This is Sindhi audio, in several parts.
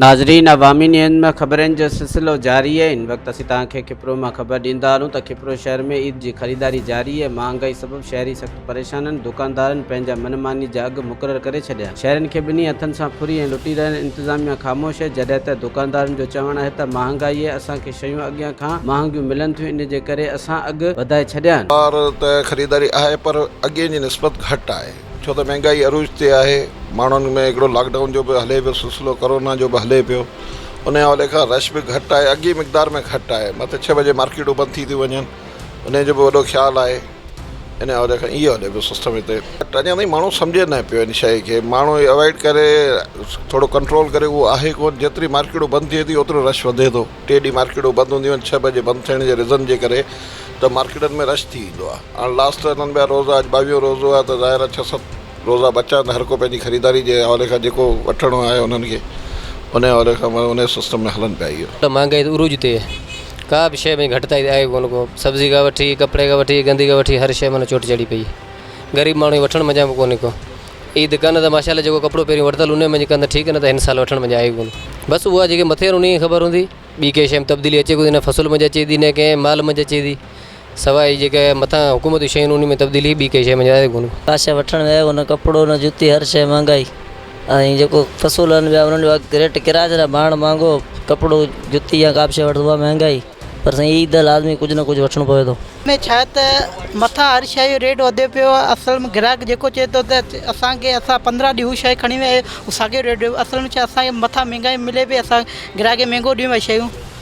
ناظرين عوامي نيوز ۾ خبرن جو سلسلو جاري اهي هن وقت اسين توهان کي کپرو مان خبر ڏيندا رهون ته کپرو شهر ۾ عيد جي خريداري جاري اهي مهانگائي سبب شهري سخت پريشان اهن دوڪاندارن پنهنجا من ماني جا اگهه مقرر ڪري ڇڏيا شهرين کي ٻنهي هٿن سان ڦري ۽ لٽي رهيا آهن انتظاميا خاموش اهي جڏهن ته دوڪاندارن جو چوڻ اهي ته مهانگائي اسان کي شيون اڳيان کان مهانگيون ملن ٿيون ان جي ڪري اسان اگھ وڌائي ڇڏيا آهن. بار ته خريداري آهي پر اڳين جي نسبت گهٽ آهي ڇو ته مهنگائي عروج تي آهي ماڻهن ۾ هڪڙو لاڪ ڊائون جو به هلي پيو سلسلو ڪورونا جو به هلي پيو ان حوالي کان رش به گهٽ آهي اڳي مقدار ۾ گهٽ آهي مٿي ڇهه بجي مارڪيٽون بند ٿي ٿيون وڃن انهي جو به وڏو خيال آهي. ان عهدي کان اهو عهدي به سستم هتي اڃا تائين ماڻهو سمجهي نه پيو ان شئي کي ماڻهو اوائڊ ڪري ٿورو ڪنٽرول ڪري اهو آهي ڪون جيتري مارڪيٽون بند ٿئي ٿي اوترو رش وڌي ٿو ٽي ڏينهن مارڪيٽون بند هونديون آهن ڇهه بجي بند ٿيڻ جي ريزن جي ڪري ته مارڪيٽن ۾ رش ٿي ويندو آهي هاڻ لاسٽ ته انهن ٻيا روزا اڄ ٻاويهون روزو آهي ته ظاهر آهي ڇهه ست روزا بچا آهن ته هر ڪو پنهنجي خريداري جي حوالي کان جيڪو وٺڻو آهي انهن کي انهي حوالي کان انهي سستم ۾ هلن پيا اهي. مهانگائي عروج تي. ڪا به شيء ۾ گهٽتائي آهي ڪونه ڪو سبزي کان وٺي ڪپڙي کان وٺي گندي کان وٺي هر شيء مان چوٽ چڙهي پئي غريب ماڻهو کي وٺڻ منجهان به ڪونه ڪو عيد ڪن ته ماشاء الله جيڪو ڪپڙو پهرين ورتل ان منجهه ڪن ته ٺيڪ نه ته هن سال وٺڻ منجهه آهي ڪونه بس اها جيڪي مٿير ان کي خبر هوندي ٻي ڪنهن شيء ۾ تبديلي اچي ڪونه فصل منجهه اچي ٿي نه ڪنهن مال منجهه اچي ٿي سواء اهي جيڪي مٿان حڪومت جون شيون ان ۾ تبديلي ٻي ڪنهن شيء ۾ جائز ڪونهي. ڪا شيء وٺڻ ويو هو نه ڪپڙو نه جتي هر شيء مهانگائي ۽ جيڪو فصول هڻڻ ويا انهن جو اگهه ريٽ ڪرايا جهڙا ماڻ مهانگو ڪپڙو جتي يا ڪا به شيء وٺ اها مهانگائي پر سائين عيد ده لازمي ڪجهه نه ڪجهه وٺڻو پوي ٿو. ان ۾ ڇا ته مٿان هر شيء جو ريٽ وڌيو پيو آهي اصل ۾ گراهڪ جيڪو چئي ٿو ته اسان کي اسان پندرهن ڏينهن هو شيء کڻي ويا آهيو ساڳيو ريٽ اصل ۾ ڇا اسان کي مٿان مهانگائي ملي پئي اسان گراهڪ کي مهانگو ڏيون شيون.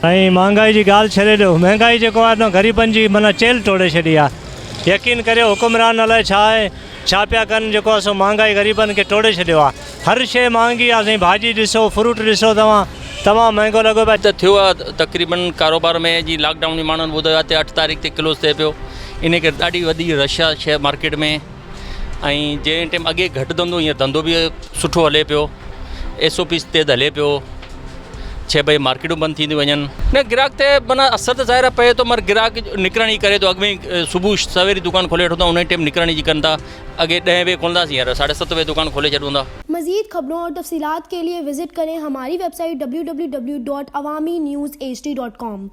۽ مھانگائي جي ڳالھ ڇڏي ڏيو مھانگائي جيڪو آھي غريبن جي معنيٰ چيلھ ٽوڙي ڇڏي آ يقين ڪريو حڪمران الائي ڇا آھي ڇا پيا ڪن جيڪو آھي سو مھانگائي غريبن کي ٽوڙي ڇڏيو آ ھر شئي مھانگي آ سائين ڀاڄي ڏسو فروٽ ڏسو توھان تمام مھانگو لڳو پيو ته ٿيو آ تقريبن ڪاروبار ۾ جي لاڪ ڊائون جي ماڻھن ٻڌايو آ تي اٺ تاريخ تي ڪلوز ٿئي پيو انھي ڪري ڏاڍي وڏي رش آ شيئر مارڪيٽ ۾. ۽ جنهن ٽيم اڳي گهٽ ڌنڌو هينئر ڌنڌو به سٺو هلي پيو ايس او پيز تيز هلي پيو ڇهه بجي مارڪيٽون بند ٿينديون وڃن نه گراهڪ تي مانا اثر ته ظاهر پئي ٿو مگر گراهڪ نڪرڻ جي ڪري ٿو اڳ ۾ صبح سويري دڪان کولي وٺو ٿا ان ٽيم نڪرڻ جي ڪن ٿا اڳي ڏهه بجي کولنداسين هينئر ساڍي ست بجي دڪان کولي ڇڏون ٿا. مزيد خبرون اور تفصيلات ڪي ليي وزٽ ڪرين هماري ويب سائيٽ www.awaminews hd.com.